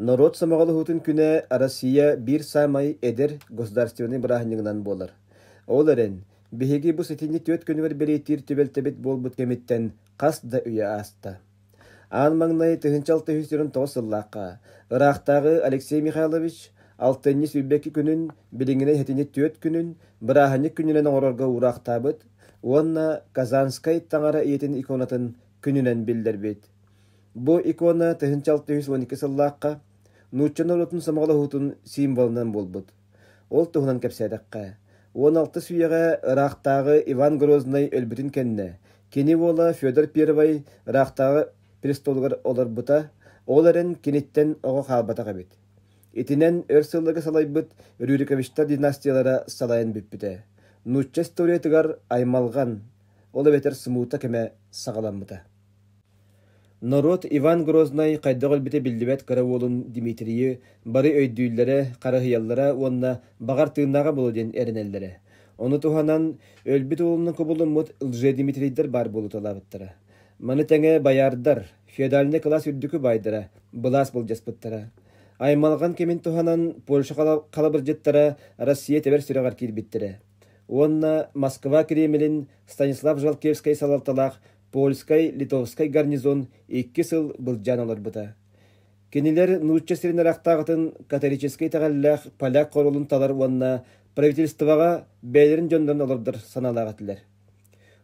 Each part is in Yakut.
Норуот сомоҕолоһуутун күнэ Россия биир саамай эдэр государственнай бырааһынньыгынан буолар. Ол эрэн, биһиги бу сэтинньи түөрт күнүгэр бэлиэтиир түбэлтэбит буолбут кэмиттэн хас да үйэ ааста. Аан маҥнай тыһыынча алтыһыы сирин тоҕус сыллаахха ыраахтааҕы Алексей Михайлович алтынньы сүүрбэкки күнүн, билиҥҥинэй сэтинньи түөрт күнүн бырааһынньык күнүнэн оҥорорго уураахтаабыт уонна Казанскай таҥара ийэтин иконатын күнүнэн биллэрбит. Бу икона тыһыынча алтыһыыс уон икки сыллаахха нуучча норуотун сомоҕолоһуутун символынан буолбут. Ол туһунан кэпсээтэххэ, уон алтыс үйэҕэ ыраахтааҕы Иван Грознай өлбүтүн кэннэ, кини уола Федор Первый ыраахтааҕы престолугар олорбута, ол эрэн киниттэн оҕо хаалбатах эбит. Итинэн өр сылларга салайбыт Рюриковичтар династиялара салайан бүппүтэ. Нуучча историятыгар аймалҕан, ол эбэтэр смута кэмэ саҕаламмыта. Норуот Иван Грознай хайдах өлбүтэ биллибэт кыра уолун Дмитрийи бары өйдүүллэрэ, харыһыйаллара уонна баҕар тыыннааҕа буолуо диэн эрэнэллэрэ. Ону туһанан өлбүт уолунан кубулуммут лжедимитрийдэр баар буолуталаабыттара. Маны тэҥэ байаардар, феодальнай кылаас үрдүкү баайдара былаас былдьаспыттара. Аймалҕан кэмин туһанан Польша халабырдьыттара Россия тэбэр сүрэҕэр киирбиттэрэ уонна Москва Кремлин Станислав Жалкевскай салалталаах Польскай-Литовскай гарнизон икки сыл былдьаан олорбута. Кинилэр нуучча сирин арахтааҕытын католическай итэҕэллээх поляк хоруолун талар уонна правительствоҕа бэйэлэрин дьоннорун олордор санаалаах этилэр.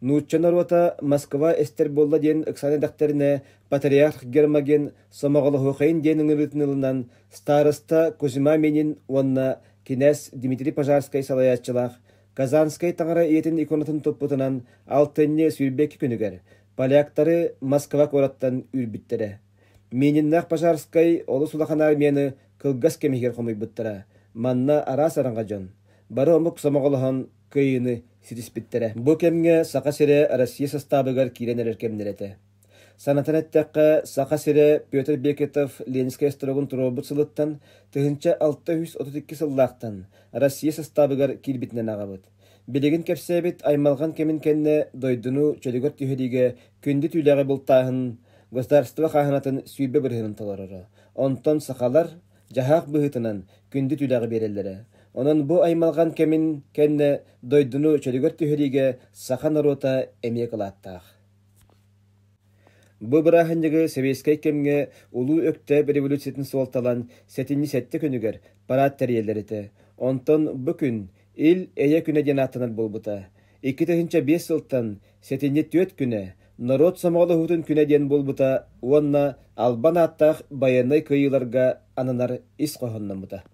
Нуучча норуота Москва эстэр буолла диэн ыксаан эдэхтэринэ, патриарх Гермоген Сомоҕолоһуохайын диэн ыҥырыытын ылынан староста Кузьма Минин уонна кинээс Дмитрий Пожарскай салайааччылаах Казанскай таҥара ийэтин иконатын туппутунан алтынньы сүүрбэкки күнүгэр поляктары Москва куораттан үүрбүттэрэ. Мининнаах Пожарскай олус улахан армияны кылгас кэмиһигэр хомуйбуттара. Манна араас аранга дьон бары омук сомоҕолоһон кыайыыны ситиспиттэрэ. Бу кэмҥэ Саха сирэ Россия састаабыгар киирэн эрэр кэмнэр этэ. Санатан эттэххэ, Саха сирэ Петр Бекетов Ленинскэй остуоругун туруорбут сылыттан тыһыынча алта үс отут икки сыллаахтан Россия састаабыгар киирбитинэн аҕабыт. Билигин кэпсээбит аймалҕан кэмин кэннэ дойдуну чөлүгэр түһэриигэ күндү түүлэҕи бултааһын государство хааһынатын сүүрбэ бырыһынын толороро. Онтон сахалар дьаһаах быһыытынан күндү түүлэҕи биэрэллэрэ. Онон бу аймалҕан кэмин кэннэ дойдуну чөлүгэр түһэриигэ саха норуота эмиэ кылааттаах. Бу бырааһынньыгы сэбиэскэй кэмҥэ Улуу Өктөөп революциятын суолталаан сэтинньи сэттэ күнүгэр параад тэрийэллэр этэ, онтон бу күн Ил Эйэ күнэ диэн ааттанар буолбута. Икки тыһыынча биэс сылтан сэтинньи түөрт күнэ Норуот сомоҕолоһуутун күнэ диэн буолбута уонна Албан ааттаах байыаннай кыайыыларга ананар ис хоһоонноммута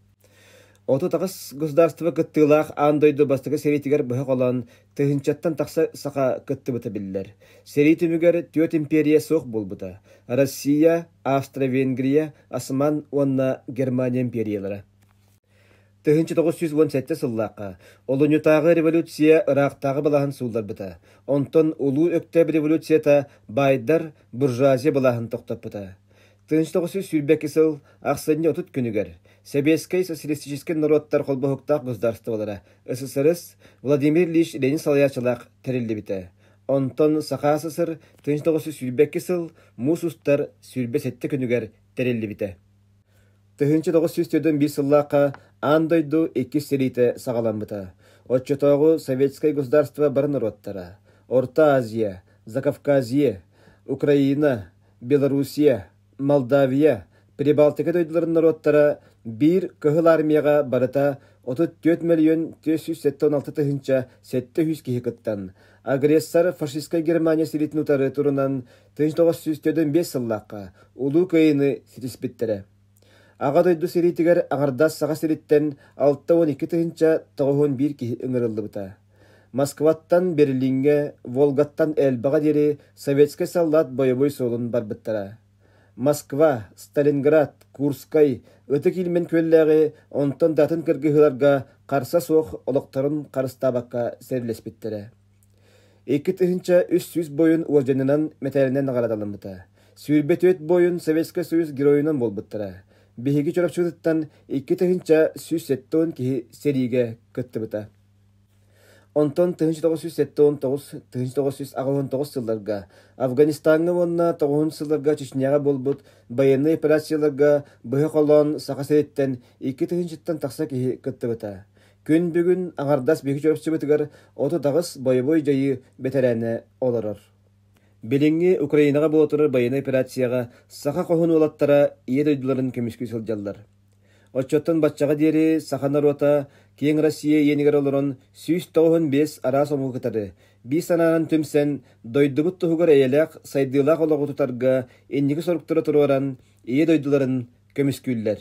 Отут аҕыс государство кыттыылаах аан дойду бастакы сэриитигэр быһа холоон тыһыынчаттан тахса саха кыттыбыта биллэр. Сэрии түмүгэр түөрт империя суох буолбута – Россия, Австро-Венгрия, Осман уонна Германия империялара. 1908 сыллаахха Олунньутааҕы революция ыраахтааҕы былаһын суулларбыта. Онтон Улуу Өктөөп революцията байдар, буржуазия былаһын тохтоппута. Тыныстыгы сүүрбэки сыл ахсынньы отут күнүгэр Сэбиэскэй социалистическай норуоттар холбоһуктаах государстволара СССР Владимир Ильич Ленин салайааччылаах тэриллибитэ. Онтон Саха СССР тыныстыгы сүүрбэки сыл муус устар сүүрбэ сэттэ күнүгэр тэриллибитэ. Тыһынча тоғыз жүз төрдөн бир сыллаахха аан дойду иккис сэриитэ саҕаламмыта. Оччотооҕу Советскай государство бары норуоттара Орта Азия, Закавказье, Украина, Белоруссия, Молдавия, Прибалтика дойдуларын норуоттара биир Кыһыл Армияҕа барыта отут түөрт мөлүйүөн түөрт сүүс сэттэ уон алта тыһыынча сэттэ үһүс киһи кыттан, агрессор фашистскай Германия сиритин утары турунан тыһыынча тоҕус сүүс төрдүн биэс сыллаахха Улуу Кыайыыны ситиспиттэрэ. Аҕа дойду сэриитигэр аҥардас Саха сириттэн алта уон икки тыһыынча тоҕуһун биир киһи ыҥырыллыбыта. Москваттан Берлиҥҥэ, Волгаттан Эльбаҕа диэри советскай саллаат бойобуой суолун барбыттара. Москва, Сталинград, Курскай, Ытык Илмэн күөллээҕи онтон да атын кыргыһыыларга харса суох олохторун харыстаабакка сэриилэспиттэрэ. Икки тыһыынча үс сүүс буойун уолдьанынан мэтээлинэн наҕараадаламмыта. Сүүрбэ түөрт буойун Советскай Союз Геройунан буолбуттара. Биһиги Чурапчытыттан икки тыһыынча сүүс сэттэ уон киһи сэриигэ кыттыбыта. Онтон тыһыынча тоҕус сүүс сэттэ уон тоҕус тыһыынча тоҕус сүүс аҕыһын тоҕус сылларга Афганистаҥҥа уонна тоҕуһун сылларга Чечняҕа буолбут байыаннай операцияларга быһа холоон Саха сириттэн икки тыһыынчаттан тахса киһи кыттыбыта. Күн бүгүн аҥардас биһиги чурапчыбытыгар отут аҕыс бойобуой дьайыы бэтэрээнэ олорор. Билиҥҥи Украинаҕа буола турар байыаннай операцияҕа саха хоһун уолаттара ийэ дойдуларын көмүскүү сылдьаллар. Оччоттон баччаҕа диэри саха норуота киэҥ Россия иэнигэр олорон сүүс тоҕуһун биэс араас омугу кытары биир санаанан түмсэн дойдубут туһугар эйэлээх, сайдыылаах олоҕу тутарга инники соруктары туруоран ийэ дойдуларын көмүскүүллэр